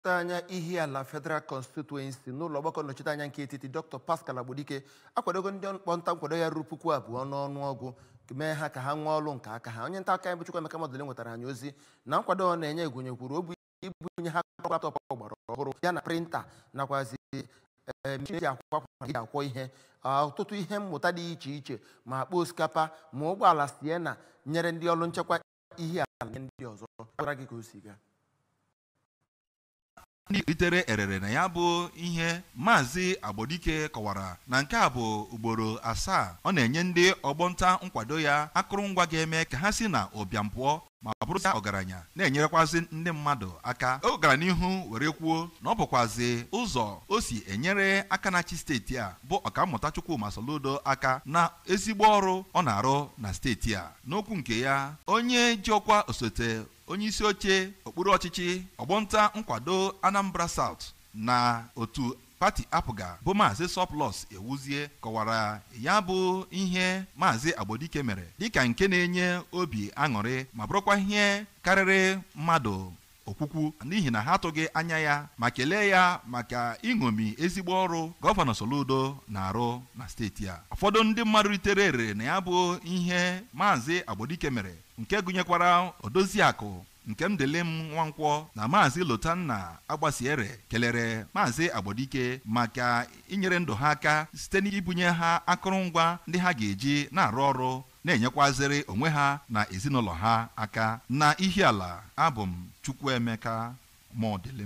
anya Ihiala Federal Constituency n'ụlọ ọgbakọ nnọchiteanya nke etiti Dr. Paschal Agbodike akwadogo ndị ọgbọ nta nkwado ya ruru puku abụọ n'ọnụọgụ mee ha ka ha nwee ọlụ nke aka ha onye nta akụkọ anyị bụ Chukwuemeka Modilim nwetara anyị ozi na nkwado ọ na-enye gụnyekwuru obu ibunye ha laptọp ọgbara ọhụrụ ya na printa nakwazi mechin ji akwa akwa ji akwọ ihe ọtụtụ ihe mmụta dị iche iche ma akpa osikapa ma ụgbọala Sienna nyere ndị ọrụ nchekwa Ihiala nye ndị ọzọ gwara anyị ka o si gaa ndị ritere erere na ya bụ ihe Maazị Agbodike kọwara na nke a bụ ugboro asaa ọ na-enye ndị ọgbọ nta nkwado ya akụrụngwa ga-eme ka ha si na ụbịam pụọ ma bụrụzi ọgaranya na-enyerekwazị ndị mmadụ aka o gara n'ihu were kwuo na ọ bụkwazi ụzọ o si enyere aka na-achị steeti a bụ ọkammụta Chukwuma Soludo aka na ezigbo ọrụ ọ na-arụ na steeti a n'okwu nke ya onye ji ọkwa osote onye isi oche okpuru ọchịchị ọgbọnta nkwado Anambra South na otu pati APGA bụ maazị Surplus Ewuzie kọwara ya bụ ihe maazị Agbodike mere dịka nke na-enye obi aṅụrị ma bụrụkwa ihe karịrị mmadụ okwukwu n'ihi na ha atụghị anya ya ma kelee ya maka iṅomi ezigbo ọrụ gọvanọ Soludo na-arụ na steeti a ụfọdụ ndị mmadụ ritere erere na ya bụ ihe maazị Agbodike mere nke gụnyekwara Odoziakụ Nkemdelim Nwankwọ na Maazị Lotanna Agbasiere kelere Maazị Agbodike maka inyere ndụ ha aka site n'ibunye ha akụrụngwa ndị ha ga-eji na-arụ ọrụ na-enyekwazịrị onwe ha na ezinụlọ ha aka na Ihiala abụ m Chukwuemeka Modilim